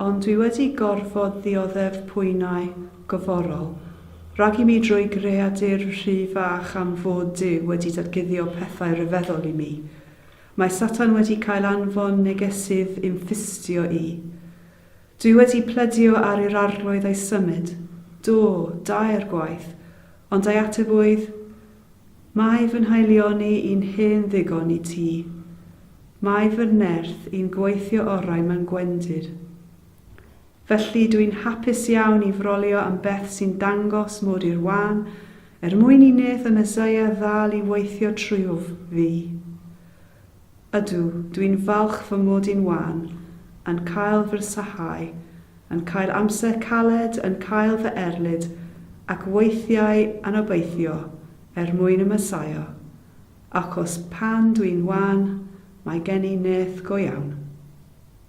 Ond dwi wedi gorfod ddioddef pwynau goforol rhag i mi drwy greadur rhy fach am fod Duw wedi datguddio pethau rhyfeddol i mi. Mae Satan wedi cael anfon negesydd i'm ffistio i. Dwi wedi plydio ar i'r Arglwydd ei symud, do, dair gwaith, ond ei ateb oedd, Mae fy nhaelioni i'n hen ddigon i ti. Mae fy nerth i'n gweithio orau mewn gwendid. Felly, dw i'n hapus iawn i frolio am beth sy'n dangos mod i'r wân, er mwyn i nêth y Meseia ddal i weithio trwyuf fi. Ydw, dw i'n falch fy mod i'n wan, yn cael fy rhysáu, yn cael amser caled, yn cael fy erlid, ac weithiau yn obeithio er mwyn y Mesaia, achos pan dw i'n wan, mae gen i nêth go iawn.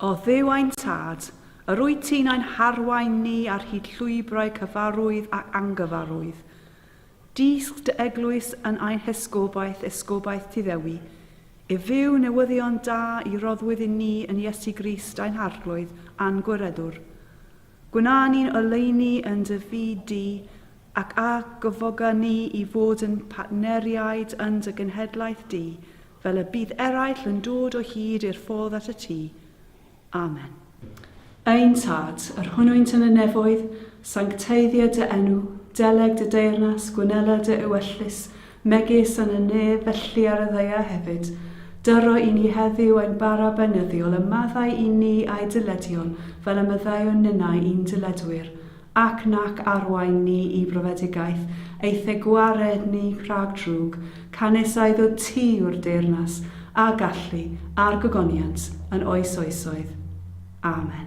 O Dduw ein Tad, yr wyt ti'n ein harwain ni ar hyd llwybrau cyfarwydd ac angyfarwydd. Dysg dy eglwys yn ein hesgobaeth, esgobaeth ti ddewi, i fyw newyddion da i roddwyd i ni yn Iesu Grist ein Harglwydd a'n Gwireddwr. Gwna ni'n oleuni yn dy fyd di, ac a gyfoga ni i fod yn partneriaid yn dy genhedlaeth di, Fel y bydd eraill yn dod o hyd i'r ffordd at y tŷ. Amen. Ein Tad, yr hwnnwynt yn y nefoedd, sancteiddio dy enw, deleg dy deyrnas, gwnela dy ewyllys, megis yn y nef, felly ar y ddaear hefyd. Dyro i ni heddiw ein bara beunyddiol, a maddau i ni a'i dyledion, fel y maddeuwn ninnau i'n dyledwyr. Ac nac arwain ni i brofedigaeth, eithe gwared ni rhag drwg, canys a iddo ti yw'r deyrnas, a gallu, a'r gogoniant, yn oes oesoedd. Amen.